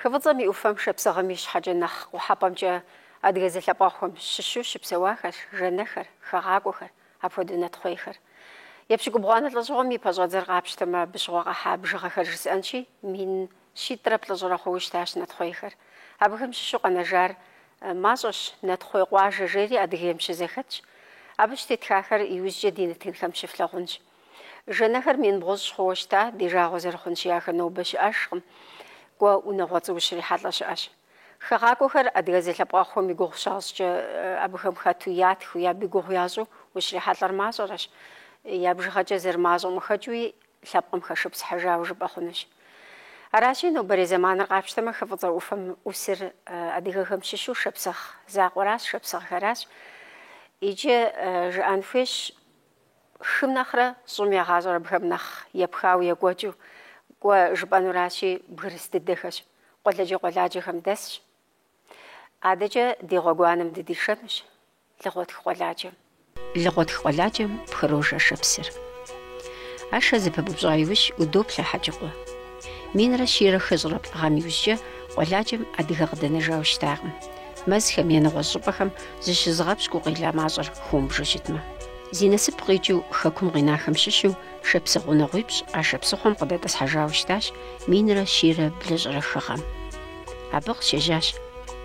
Хы Фӏыцӏэм и ӏуфэм шапсыгъым ищхьэкӏэ нэхъ къухьэпӏэмкӏэ адыгэ зэлъэпкъэгъухэм щыщу щыпсэуахэрщ жэнэхэр, хэгъакӏуэхэр, апхуэдэу нэтхъуейхэр. Епщыкӏубгъуанэ лӏэщӏыгъуэм и пэщӏэдзэр къапщтэмэ, абы щыгъуэ къахьа бжыгъэхэр жысӏэнщи, мин щитӏрэ плӏыщӏрэ хъууэ щытащ нэтхъуейхэр. Абыхэм щыщу къэнэжар мащӏэщ, нэтхъуей къуажэ жери Адыгейм щызэхэтщ. Абы щытетхахэр иужькӏэ ди нэтынхэм щыфлъагъунщ. Жэнэхэр мин бгъущӏ хъууэ щыта, ди жагъуэ зэрыхъунщи, ахэр нобэ щыӏэжкъым. Кӏуэ, унагъуэцӏэу ущрихьэлӏэ щыӏэщ. Хэгъакӏуэхэр адыгэ зэлъэпкъэгъухэм и гугъу щащӏкӏэ, абыхэм хэту ятхыу, е абы и гугъу ящӏу ущрихьэлӏэр мащӏэрэщ. Я бжыгъэкӏэ зэрымащӏэм къыхэкӏыуи, лъэпкъым хэшыпсыхьыжауэ жыпӏэ хъунущ. Аращи, нобэрей зэманыр къапщтэмэ, хы фӏыцӏэ ӏуфэм ӏусыр адыгэхэм щыщу шапсыгъ закъуэращ, шапсыгъхэращ. Иджы жыӏэн хуейщ. Хым нэхърэ щӏым я гъащӏэр бгым нэхъ епхауэ екӏуэкӏыу кӏуэ жыпӏэнуращи, бгырыс дыдэхэщ, къуэладжэ къуэладжэхэм дэсщ. Адэкӏэ ди гъуэгуанэм дыдишэнущ Лыгъуэтх къуэладжэм. Лыгъуэтх къуэладжэм пхырож Ашэ псыр. Ашэ зэпыбупщӏа иужь удоплъэ Хьэджыкъуэ. Минрэ щийрэ хыщӏрэ плӏы гъэм иужькӏэ къуэладжэм адыгэ къыдэнэжауэ щытакъым. Мэзхэм е нэгъуэщӏ щӏыпӏэхэм зыщызыгъэпщкӏуу къела мащӏэр хыумыбжэу щытмэ. Зи насып къикӏыу хэкум къинахэм щыщу шапсыгъ унагъуипщӏ Ашэ псыхъуэм къыдэтӏысхьэжауэ щытащ минрэ щийрэ блыщӏрэ хы гъэм. Абы къыщежьащ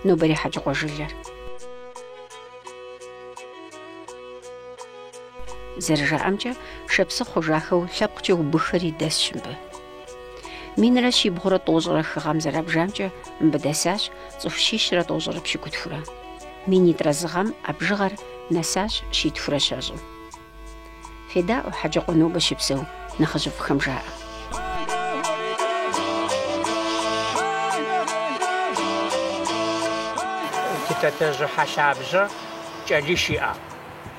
нобэрей Хьэджыкъуэ жылэр. Зэрыжаӏэмкӏэ, шапсыгъ хъужахэу лъэпкъкӏэ убыххэри дэсщ мыбы. Минрэ щибгъурэ тӏощӏрэ хы гъэм зэрабжамкӏэ мыбы дэсащ цӏыху щищрэ тӏощӏрэ пщыкӏутхурэ. Минитӏрэ зы гъэм а бжыгъэр нэсащ щитхурэ щэщӏым. Федаӏуэ Хьэджыкъуэ нобэ щыпсэу нэхъыжьыфӏхэм жаӏэ. Титэтэжьы Хьэлъабжьэ кӏэлищ иӏэ.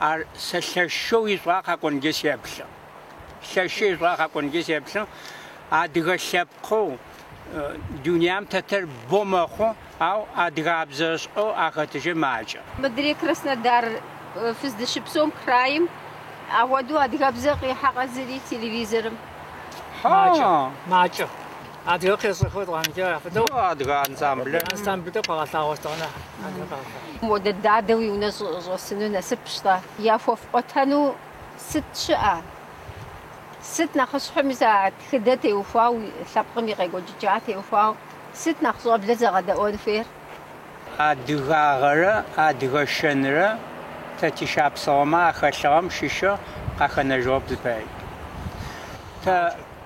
Ар сэ лъэшэу ишӏуагъэ къэкӏуэнкӏэ сеплъэ. Лъэшэу ишӏуагъэ къэкӏуэнкӏэ сеплъэ. Адыгэ лъэпкъыу дуням тетыр бэ мэхъу, ау адыгабзэ ишӏэу ахэтыжыр макӏэ. Мыдрей Краснодар фыздыщыпсэум крайым апхуэдэу адыгэбзэ къихьэкъэ зыри телевизорым? Макӏэ, макӏэ. Адыгэ къесэхуэ тӏуанкӏэ фыдэу. Ну, адыгэ ансамблэ. Ансамблэ къэгъэлъагъуэ тӏуанэ. Адыгэ къэгъэлъагъуэ. Модэ дадэ уи унэ щӏэсыну насыпщ-тӏэ? Яхуэфӏуэтэну сыт щыӏэ? Сыт нэхъыщхьэми сэ а тхыдэ теухуауэ, лъэпкъым и къекӏуэкӏыкӏа теухуауэ, сыт нэхъ щӏэблэр зэгъэдэӏуэн хуейр? Адыгагъэрэ адыгэ шэнрэ тэ тишапсыгъэмэ ахэлъыгъэм щыщу къахэнэжыгъэп зыпари. Тэ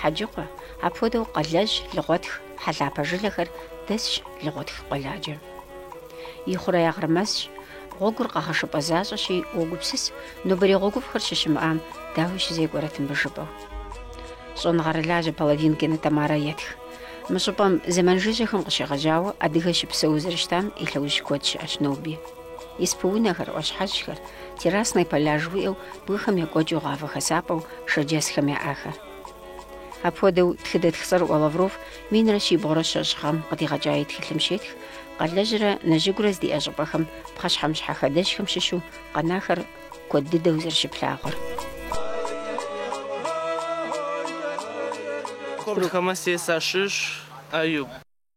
Хьэджыкъуэ, апхуэдэу Къалэжь, Лыгъуэтх, Хьэлъапэ жылэхэр дэсщ Лыгъуэтх къуэладжэм. И хъуреягъыр мэзщ, гъуэгур къэгъэшыпӏэ защӏэщи, уогупсыс, нобэрей гъуэгуфӏхэр щыщымыӏам дауэ щызекӏуэрэт, жыпӏэу. Щӏэныгъэрылажьэ Половинкина Тамарэ етх. Мы щӏыпӏэм зэман жыжьэхэм къыщегъэжьауэ адыгэ щыпсэуу зэрыщытам и лъэужь куэд щыӏэщ ноби. Испы-унэхэр, ӏуащхьэщхэр, террасные поля жыхуиӏэу бгыхэм екӏуэкӏыу гъавэ хэсапӏэу шэрджэсхэм яӏахэр. Апхуэдэу тхыдэтх цӏэрыӏуэ Лавров минрэ щибгъурэ щэщӏ гъэм къыдигъэкӏа и тхылъым щетх Къалэжьрэ Нэжьыгурэ здэщыӏэ щӏыпӏэхэм пхъэщхьэмыщхьэ хадэжьхэм щыщу къэнахэр куэд дыдэу зэрыщыплъагъур.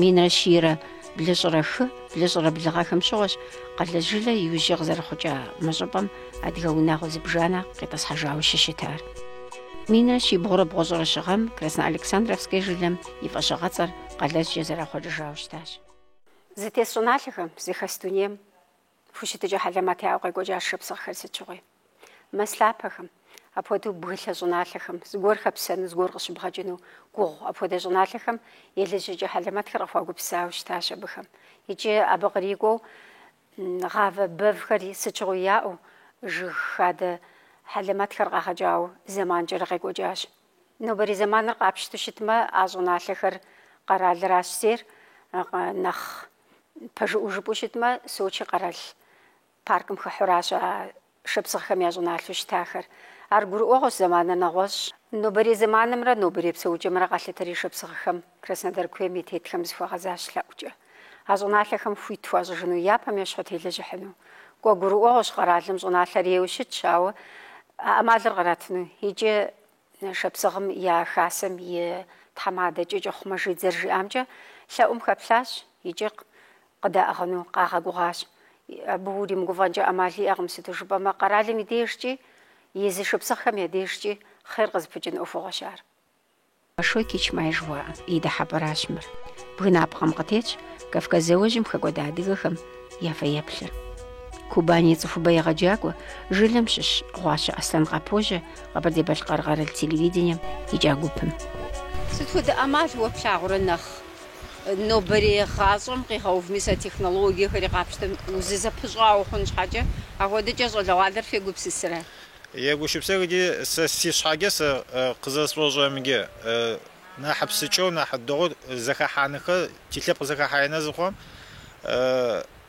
Минрэ щийрэ блыщӏрэ хы, блыщӏрэ блы гъэхэм щыгъуэщ Къалэжь жылэ иужькӏэ къызэрыхъукӏа мы щӏыпӏэм адыгэ унагъуэ зыбжанэ къитӏысхьэжауэ щыщытар. Минрэ щибгъурэ бгъущӏрэ щы гъэм Красноалександровскэ жылэм и фӏэщыгъэцӏэр Къалэжькӏэ зэрахъуэкӏыжауэ щытащ. Зытес щӏыналъэхэм, зыхэс дунейм хущытыкӏэ хьэлэмэт яӏэу къекӏуэкӏащ шапсыгъхэр сыт щыгъуи. Мэз лъапэхэм, апхуэдэу бгылъэ щӏыналъэхэм, зыгуэр хэпсэну,, зыгуэр къыщыбгъэкӏыну гугъу. Апхуэдэ щӏыналъэхэм елэжьыкӏэ хьэлэмэтхэр къыхуагупсысауэ щытащ абыхэм. Икӏи абы кърикӏуэу гъавэ бэвхэр сыт щыгъуи яӏэу, жыг хадэ хьэлэмэтхэр къагъэкӏауэ зэманкӏэрэ къекӏуэкӏащ. Нобэрей зэманыр къапщтэу щытмэ, а щӏыналъэхэр къэралыращ зейр нэхъ пэжыӏуэу жыпӏэу щытмэ, Сочи къэрал паркым хыхьуращ а шапсыгъхэм я щӏыналъэу щытахэр. Ар гурыӏуэгъуэщ зэманыр нэгъуэщӏ. Нобэрей зэманымрэ нобэрей псэукӏэмрэ къалъытэри шапсыгъхэм Краснодар куейм и тетхэм зыхуагъэзащ лъэӏукӏэ. А щӏыналъэхэм хуит хуащӏыжыну, япэм ещхьу телэжьыхьыну. Кӏуэ гурыӏуэгъуэщ къэралым щӏыналъэр ейуэ щытщ, ауэ а ӏэмалыр къратыну икӏи Шапсыгъхэм я хасэм и тхьэмадэ Кӏакӏыхъу Мэжид зэрыжиӏамкӏэ лъэӏум хэплъащ икӏи къыдаӏыгъыну къагъэгугъащ. Абы уримыгуфӏэнкӏэ ӏэмал иӏэкъым, сыту жыпӏэмэ къэралым и дежкӏи, езы шапсыгъхэм я дежкӏи хъер къызыпыкӏын ӏуэхугъуэщ ар. Большой Кичмай жыхуаӏэм и дыхьэпӏэращ мыр. Бгынапкъэм къытетщ Кавказ зауэжьым хэкӏуэда адыгэхэм я фэеплъыр. Кубань и цӏыхубэ егъэджакӏуэ, жылэм щыщ Гъуащэ Аслъэн къыпожьэ Къэбэрдей-Балъкъэр къэрал телевидением икӏа гупым. Сыт хуэдэ ӏэмал уэ плъагъурэ нэхъ? Нобэрей гъащӏэм къигъэувми сэ технологиехэри къапщтэм узызэпыщӏауэ хъун щхьэкӏэ, апхуэдэкӏэ щӏалэгъуалэр фегупсысрэ? Егупшысэх ди, сэ си щхьэкӏэ сэ къызэрэсшӏошӏрэмджэ, нахь псынкӏэу, нахь дэгъуэу зэхэхьанхэр, ти лъэпкъ зэхэхьэ ин зыхъуэм,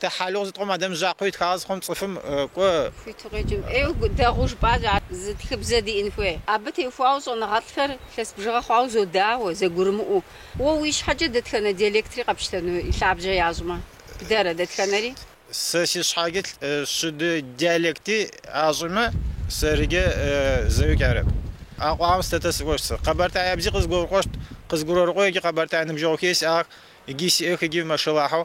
Тэ хьэлугъ зыткъом адэм жъакъо итхагъэ зыхъум цӏыфым кӏо. Хуиту къеджэм ӏейу дэгъу жыпӏащ ар зы тхыбзэ диӏэн хуей. Абы техуауэ щӏэныгъэлӏхэр лъэс бжыгъэ хъуауэ зодауэ, зэгурымыӏуэу. Уэ уи щхьэкӏэ дэтхэнэ диалектри къэпщтэну и лъабжьэ ящӏмэ? Бдэрэ, дэтхэнэри? Сэ си щхьэкӏэ щыды диалекти ащӏымэ, сэрыкӏэ зэуи арэп. Акъуагъэм сытэтэ сыӏощт сэ. Къэбэртэябзи къызгурыкъощт, къызгурэкъо икӏи къэбэртэ ныбжьэгъухи сиӏагъэх, икӏи сиӏэх, икӏи мэшэлахьэу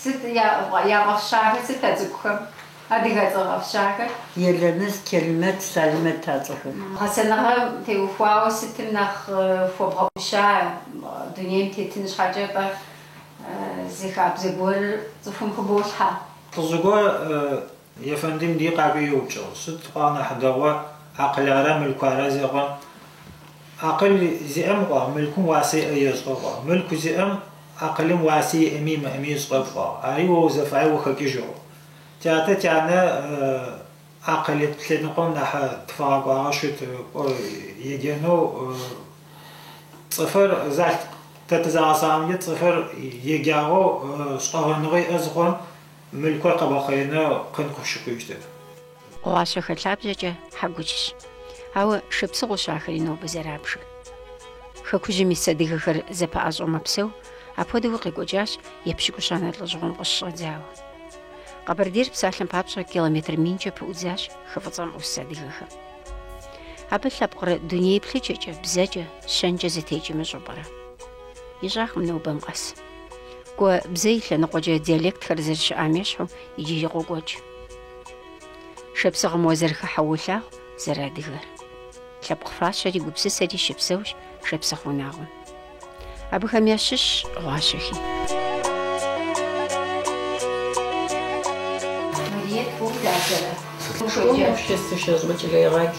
Сыт яфӏэфщахэр сыт а цӏыкӏухэм? Адыгэ цӏэ фӏэфщахэр? Елэныщӏ, Келимэт, Салимэт а цӏэхэр. Гъэсэныгъэм теухуауэ сытым нэхъ хуэбгъэӏуща дунейм тетын щхьэкӏэ фэ зы хабзэ гуэрыр цӏыхум хыболъхьэ? Лӏыжьыгуэ Ефэндим дий къакӏуи еупчӏыгъ, Сыт къуа нэхъ дэгъуэ, акъылара, мылкуара зекъуэм. Акъыл зиӏэм къуа, мылкум уасэ иӏэ ещӏэ къуа. Мылку зиӏэм, акъылым уасэ иӏэми имыӏэми ищӏэп къуа. Ари уэ узэфаеу хэкӏыжь. Тятэ, тянэ акъыл лъэныкъуэм нэхъ тыфагъэкӏуагъэ щыт, кӏуэ еджэну цӏыфыр залъ. Тэ тызагъэсагъэмкӏэ цӏыфыр еджагъэу, щӏэгъэныгъэ иӏэ зыхъуэм. Мылкур къэбгъэхъэну къин къыпщыхъужьтэп. Гъуащэхэ лъабжьэкӏэ хьэкучщ. Ауэ шапсыгъыущ ахэри нобэ зэрабжыр. Хэкужьым ис адыгэхэр зэпэӏэщӏэу мэпсэу, апхуэдэуи къекӏуэкӏащ епщыкӏущанэ лӏэщӏыгъуэм къыщыщӏэдзауэ. Къэбэрдейр псалъэм папщӏэ километр минкӏэ пыӏудзащ хы фӏыцӏэм ӏус адыгэхэм. Абы лъэпкъыр дуней еплъыкӏэкӏэ, бзэкӏэ, щэнкӏэ зэтекӏ имыщӏу пӏэрэ? Ищӏакъым нобэм къэс. Кӏуэ бзэ и лъэныкъуэкӏэ диалектхэр зэрыщыӏам ещхьу иджыри къокӏуэкӏ. Шапсыгъым узэрыхыхьэу уолъагъу зэрыадыгэр. Лъэпкъ фащэри гупсысэри щыпсэущ шапсыгъ унагъуэм. Абыхэм ящыщщ Гъуащэхи. Мариет, Пу, Лазэрэ. Пушэкӏэ. Пушэсышэ щӏыкӏ лейгъэкӏ.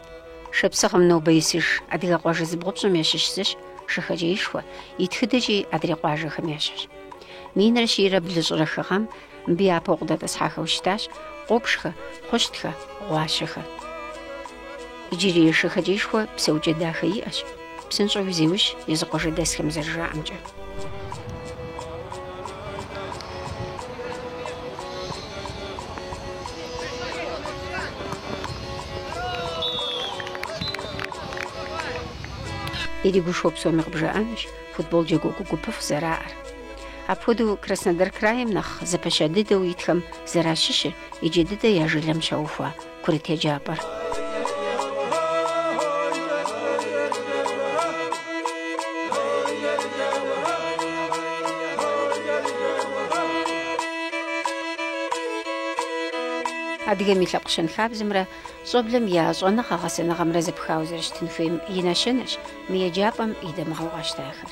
Шапсыгъым нобэ исыж адыгэ къуажэ зыбгъупщӏым ящыщ зыщ Шэхэкӏэишхуэ, и тхыдэкӏи адрей къуажэхэм ещхьщ. Минрэ щийрэ блыщӏрэ хы гъэм мыбы япэу къыдэтӏысхьахэу щытащ Къобжхэ, Хъущтхэ, Гъуащэхэ. Иджырей Шэхэкӏэишхуэ псэукӏэ дахэ иӏэщ. Псынщӏэуи зеужь, езы къуажэдэсхэм зэрыжаӏэмкӏэ. Иригушхуэу псоми къыбжаӏэнущ футбол джэгу гупыфӏ зэраӏэр. Апхуэдэу Краснодар краем нэхъ зэпэща дыдэу итхэм зэращыщыр иджы дыдэ я жылэм щаухуа курыт еджапӏэр. Адыгэм и лъэпкъ щэнхабзэмрэ щӏэблэм я щӏэныгъэ-гъэсэныгъэмрэ зэпхауэ зэрыщытын хуейм и нэщэнэщ мы еджапӏэм и дамыгъэу къащтахэр.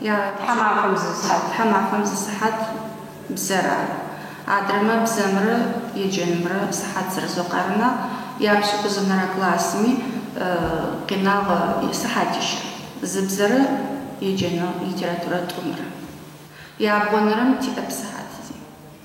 Я тхьэмахуэм зы сыхьэт. Тхьэмахуэм зы сыхьэт бзэр ар. Адрэмэ бзэмрэ еджэнымрэ сыхьэт зэрызокъармэ, япщыкӏузэнэрэ классми къинагъэ сыхьэтищ. Зы бзэрэ еджэны литературэ тӏумрэ. Ябгъуэнэрэм тиӏэп сыхьэти.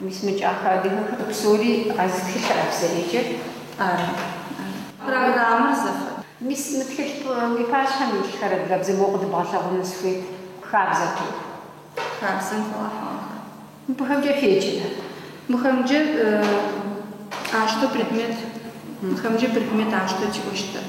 Мис мы кӏахэ адыгэхэр псори а зы тхылъыра зэреджэр ара? Программэр зэфэ. Мис мы тхылъ уи пащхьэм илъхэр адыгэбзэ моуэ къыдыбгъэлъэгъуну сыхуейт, хабзэ тоху. Хабзэм хуэгъэхьыгъэхэр. Мыбыхэмкӏэ феджэрэ? Мыхэмкӏэ ащтэ предмет, мыхэмкӏэ предмет ащтэ тиӏощтэп.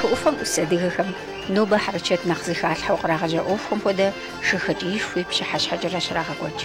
Хы ӏуфэм ӏус адыгэхэм нобэ хьэрычэт нэхъ зыхалъхьэу кърагъэжьа ӏуэхухэм хуэдэ Шэхэкӏэишхуи пщыхьэщхьэкӏэрэ щрагъэкӏуэкӏ.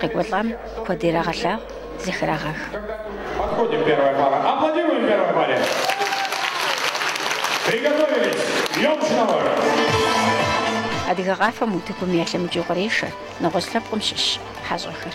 Къекӏуэлӏам куэд ирагъэлъагъу, зэхрагъэх. Адыгэ къафэм утыкум ялъэмыкӏыу кърешэ нэгъуэщӏ лъэпкъым щыщ хьэщӏэхэр.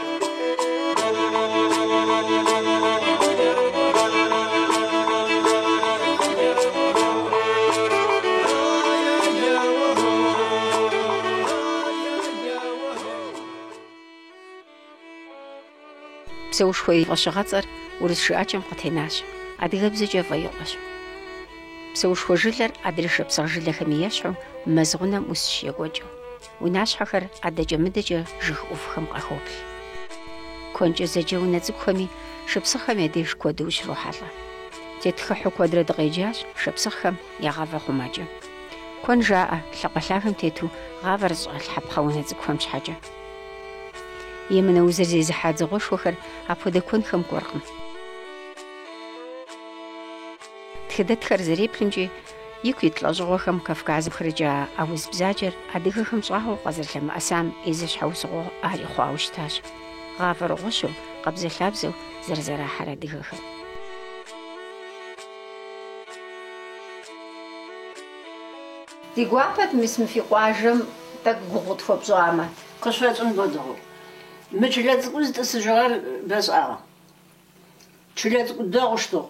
Псэушхуэ и фӏэщыгъэцӏэр урыс жыӏэкӏэм къытенащ, адыгэбзэкӏэ Фӏэикъуэщ. Псэушхуэ жылэр адрей шапсыгъ жылэхэми ещхьу, мэз гъунэм ӏусщ екӏуэкӏыу. Унащхьэхэр адэкӏэ-мыдэкӏэ жыг ӏувхэм къахоплъ. Куэнкӏэ зэджэ унэ цӏыкӏухэми шапсыгъхэм я деж куэду ущрохьэлӏэ. Тетхыхьу куэдрэ дыкъеджащ шапсыгъхэм я гъавэ хъумакӏэ. Куэн жаӏэ, лъакъуэ лъагэм тету гъавэр зыщӏалъхьэпхъэ унэ цӏыкӏухэм щхьэкӏэ. Емынэ узыр зезыхьа дзыгъуэшхуэхэр апхуэдэ куэнхэм кӏуэркъым. Тхыдэтхэр зэреплъымкӏэ, ику ит лӏэщӏыгъуэхэм Кавказым къырикӏуа а уз бзаджэр адыгэхэм щӏагъуэу къазэрылъэмыӏэсам и зы щхьэусыгъуэ ари хъуауэ щытащ, гъавэр гъущэу, къабзэлъабзэу зэрызэрахьэр адыгэхэм. Ди гуапэт мис мы фи къуажэм тӏэкӏу и гугъу тхуэпщӏамэ. Къыщфӏэкӏын хуэдэу. Мы чылэ цӏыкӏур зытӏысыжьыгъэр бэ шӏагъэ. Чылэ цӏыкӏу дэгъоу щытыгъ.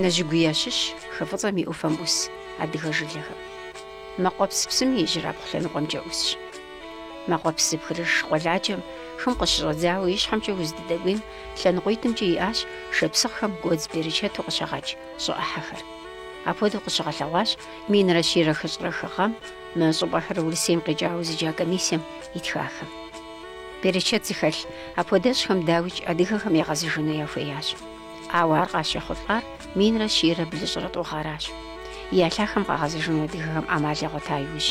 Нэжьыгуи ящыщщ хы Фӏыцӏэм и ӏуфэм ӏус адыгэ жылэхэм. Мэкъуэпс псым и ижьырабгъу лъэныкъуэмкӏэ ӏусщ. Мэкъуэпс зыпхрыж къуэладжэм хым къыщыщӏэдзауэ и щхьэмкӏэ уздыдэкӏуейм лъэныкъуитӏымкӏэ иӏащ шапсыгъхэм гуэдз берычэту къыщагъэкӏ щӏы ӏыхьэхэр. Апхуэдэу къыщыгъэлъэгъуащ минрэ щийрэ хыщӏрэ хы гъэм мы щӏыпӏэхэр Урысейм къикӏауэ зыджа комиссием итхахэм. Берычэт зыхэлъ апхуэдэ щӏыхэм дауикӏ адыгэхэм ягъэзэжыну яхуеящ. Ауэ ар къащехъулӏар минрэ щийрэ блыщӏрэ тӏу гъэращ. Я лъахэм къагъэзэжыну адыгэхэм ӏэмал ягъуэта иужь.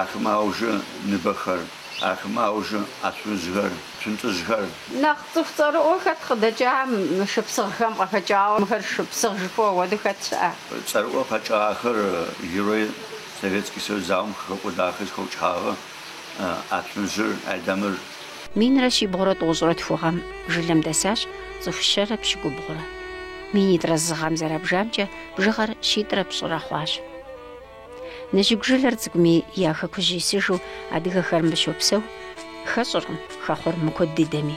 Ахэмэ аужы Ныбэхэр, ахэмэ аужы Ацумыжьхэр, Цунтӏыжьхэр. Нэхъ цӏыху цӏэрыӏуэ хэт къыдэкӏа мы шапсыгъхэм къыхэкӏауэ? Мыхэр шапсыгъ жыпӏэу апхуэдэу хэт щыӏэ? Цӏэрыӏуэ къэкӏахэр Герой Советский Союз зауэм къыхэкӏуэдахэр зыхэукӏыхьагъэ Ацумыжьыр, Айдэмыр. Минрэ щибгъурэ тӏощӏрэ тху гъэм жылэм дэсащ цӏыху щэрэ пщыкӏубгъурэ. Минитӏрэ зы гъэм зэрабжамкӏэ бжыгъэр щитӏрэ пщӏырэ хъуащ. Нэжьыгу жылэр цӏыкӏуми я хэкужь исыжу адыгэхэр мыбы щопсэу, хэщӏыркъым хэхъуэр мыкуэд дыдэми.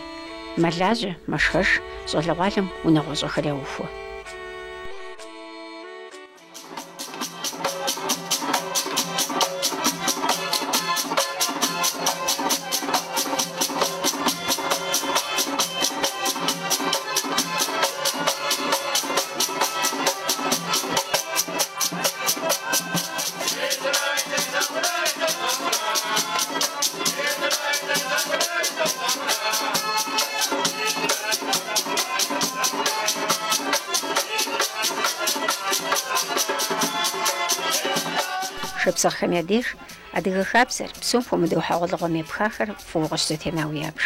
Мэлажьэ, мэшхэж, щӏалэгъуалэм унагъуэщӏэхэр яухуэ. Шапсыгъхэм я деж адыгэ хабзэр, псом хуэмыдэу хьэгъуэлӏыгъуэм епхахэр фӏыуэ къыщызэтенауэ ябж.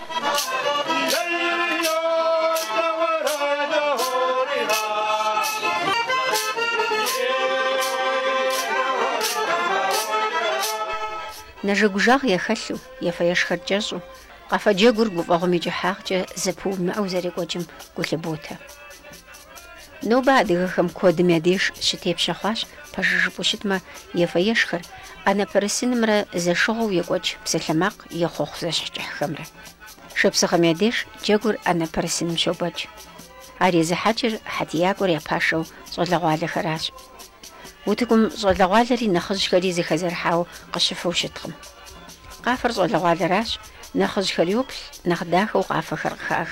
Нэжэгужагъ яхэлъу, ефэ-ешхэр кӏэщӏу, къэфэджэгур гуфӏэгъуэм и кӏыхьагъкӏэ зэпыумыӏэу зэрекӏуэкӏым гу лъыботэ. Нобэ адыгэхэм куэдым я деж щытепщэ хъуащ, пэжыр жыпӏэу щытмэ, ефэ-ешхэр, ӏэнэпэрысынымрэ зэшыгъуэу екӏуэкӏ псалъэмакъ е хъуэхъу зэщхь кӏыхьхэмрэ. Шапсыгъэм я деж джэгур ӏэнэпэрысыным щобэкӏ. Ар езыхьэкӏыр хьэтиякӏуэр я пашэу щӏалэгъуалэхэращ. Утыкум щӏалэгъуалэри нэхъыжьхэри зэхэзэрыхьауэ къыщыфэу щыткъым. Къафэр щӏалэгъуалэращ, нэхъыжьхэр йоплъ, нэхъ дахэу къафэхэр къыхах.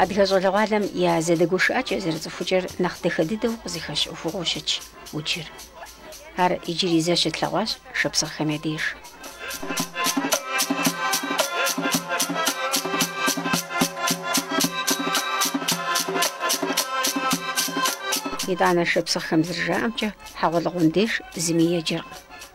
Адыгэ щӏалэгъуалэм я зэдэгушыӏэкӏэ зэрыцӏыхукӏэр нэхъ дахэ дыдэу къызыхэщ ӏуэхугъуэу щытщ уджыр. Ар иджыри зэ щытлъэгъуащ шапсыгъхэм я деж. Итӏанэ шапсыгъхэм зэрыжаӏэмкӏэ, хьэгъуэлӏыгъуэм деж зыми еджэркъым.